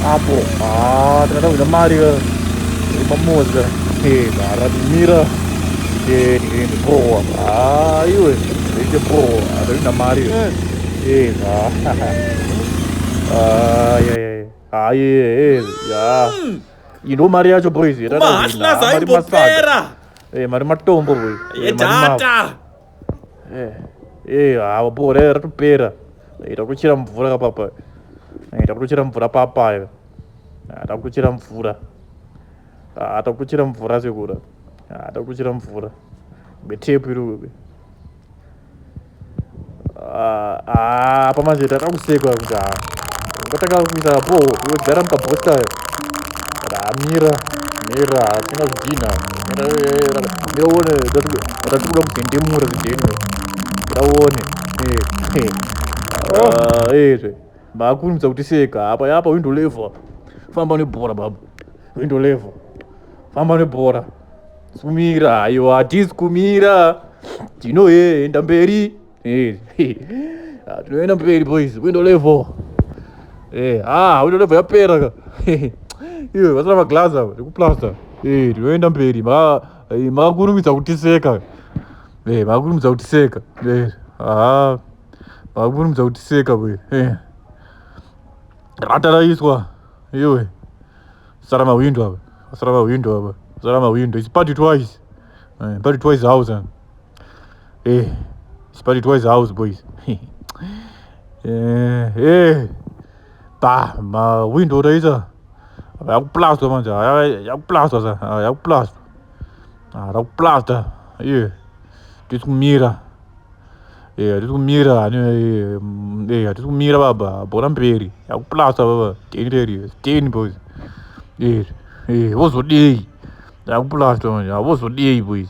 apo ah, tinoda kuda mari pamoza aradimira ndipowa ah, iwe ite powa adarina mari eh. ah, aye hmm. indo mari yacho boys mari matombo boy Eh, hawa bho re ratopera. Ita kuchira mvura ka papa. Ita kuchira mvura papa yo. Ata kuchira mvura. Ata kuchira mvura sekura. Ata kuchira mvura. Betepu iri. Ah, ah, apa manje tata kusekwa kuti haa ngatanga kuisa po yogara mukabhota amira mira hatina kudina mira uone watati kuda kudendemura zideno mira uone ezve makurumidza kuti seka apa yapa windo level famba nebhora baba windo level famba nebhora sumira ayo hatisi kumira tinoenda mberi Eh, ah, tinoenda mberi boys window level eh, ah window level yapera ka iwe vasina maglass avo ndikuplaster eh, tinoenda mberi eh, makakurumidza kutiseka eh, makakurumidza kutiseka eh, ah makakurumidza kutiseka boys eh. rataraiswa iwe sara mawindo ava sara mawindo ava sara mawindo it's party twice eh, party twice house Eh, but it was house boys. eh, eh. Ba, ma window raisa. Yakuplastwa manje, yakuplastwa sa, yakuplastwa. Ah, rakuplasta. Yeah. Tiri kumira. Yeah, tiri kumira. Eh, yeah, tiri kumira baba. Bora mberi. Yakuplasta baba. Ten reri. Ten boys. Yeah. Eh, vozodei. Yakuplasta manje, vozodei boys.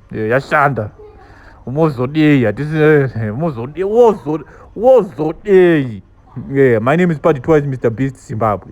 Eh, yashanda mozodei hatisi eh, mozodei wozodei eh, my name is party twice mr beast zimbabwe